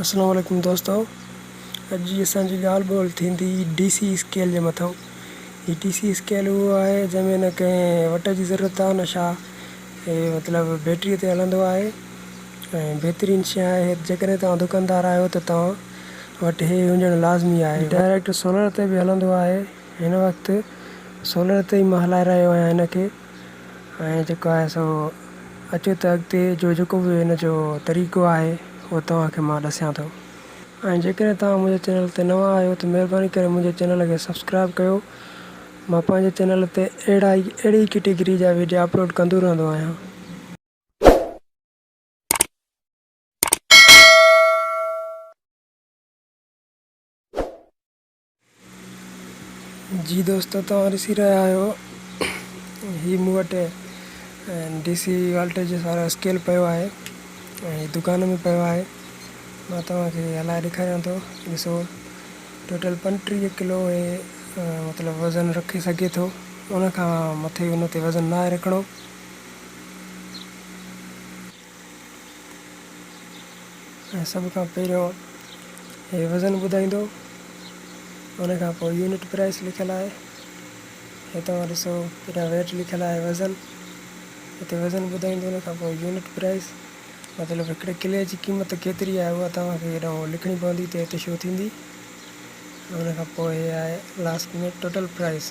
اسلام عليڪم دوستو اڄ جي اسان جي ڳالهه ٻولهه ٿيندي ڊي سي اسڪيل جي مٿان هي ڊي سي اسڪيل اهو آهي جنهن ۾ نه ڪنهن وٽ جي ضرورت آهي نه شا هي مطلب بيٽري تي هلندو آهي ۽ بهترين شي آهي جيڪڏهن توهان دڪاندار آهيو ته توهان وٽ هي هجڻ لازمي آهي ڊائريڪٽ سولر تي به هلندو آهي هن وقت سولر تي ئي مان هلائي رهيو آهيان هن کي ۽ جيڪو آهي سو اچو ته اڳتي جو جيڪو به ان جو طريقو آهي اهو توهان کي مان ڏسيان ٿو ۽ جيڪڏهن توهان منهنجي چينل تي نوان آهيو ته مهرباني ڪري منهنجي چينل کي سبسڪرائب ڪيو مان پنهنجي چينل تي اهڙا ئي اهڙي ئي ڪيٽيگري جا ويڊيا اپلوڊ ڪندو رهندو آهيان. جي دوستو توهان ڏسي رهيا آهيو هي مون وٽ ڊي سي والٽيج وارو اسڪيل پيو آهي ۽ هي دڪان ۾ پيو آهي مان توهان کي هلائي ڏيکاريان ٿو ڏسو ٽوٽل پنجٽيهه ڪلو هي مطلب وزن رکي سگهي ٿو ان کان مٿي ان تي وزن ناهي رکڻو ۽ سڀ کان پهريون هي وزن ٻڌائيندو ان کان پوء يونٽ پرائس لکيل آهي هي توهان ڏسو پهريان ويٽ لکيل آهي وزن هتي وزن ٻڌائيندو ان کان پوء يونٽ پرائس مطلب هڪڙي ڪلي جي قيمت ڪيتري آهي اها توهان کي هيڏانهن لکڻي پوندي ته هتي شو ٿيندي ان کان پوء هي آهي لاسٽ ۾ ٽوٽل پرائس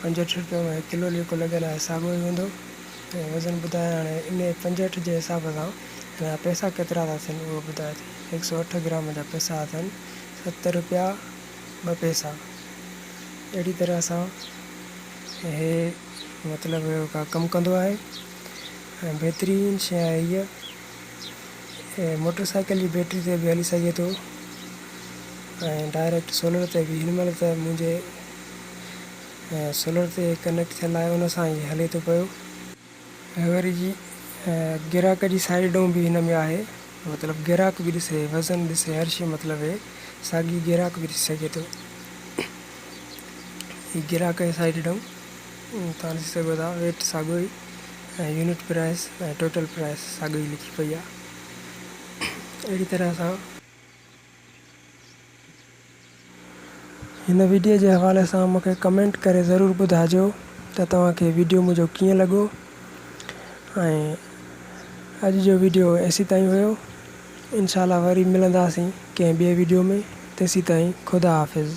پنجهٺ رپيو ۾ ڪلو جيڪو لڳل آهي ساڳيو ئي هوندو ۽ وزن ٻڌائي هاڻي انهي پنجهٺ جي حساب سان هن جا پئسا ڪيترا ٿا ٿين اهو ٻڌائي ٿي هڪ سؤ اٺ گرام جا پئسا اٿن ست رپيا ٻه پئسا اهڙي طرح سان هي مطلب ڪا ڪم ڪندو آهي ۽ بهترين شي آهي هيء موٽر سائيڪل جي بيٽري تي به هلي سگهي ٿو ۽ ڊائريڪٽ سولر تي به هن مهل ته منهنجي سولر تي ڪنيڪٽ ٿيل آهي ان سان هي هلي ٿو پيو ۽ وري جي گراهڪ جي سائيڊ ڊون به هن ۾ آهي مطلب گراهڪ به ڏسي وزن ڏسي هر شي مطلب هي ساڳي گراهڪ به ڏسي سگهي ٿو هي گراهڪ جي سائيڊ ڊون تان ڏسي سگهو ٿا ويٽ ساڳو ئي ۽ يونٽ پرائس ۽ ٽوٽل پرائس ساڳو ئي لکي پئي آهي اهڙي طرح سان هن ويڊيو جي حوالي سان مون کي ڪمينٽ ڪري ضرور ٻڌائجو ته توهان کي ويڊيو منهنجو ڪيئن لڳو ۽ اڄ جو ويڊيو ايسي تائين هيو انشاءالله وري ملنداسين ڪنهن ٻي ويڊيو ۾ تيسي تائين خدا حافظ.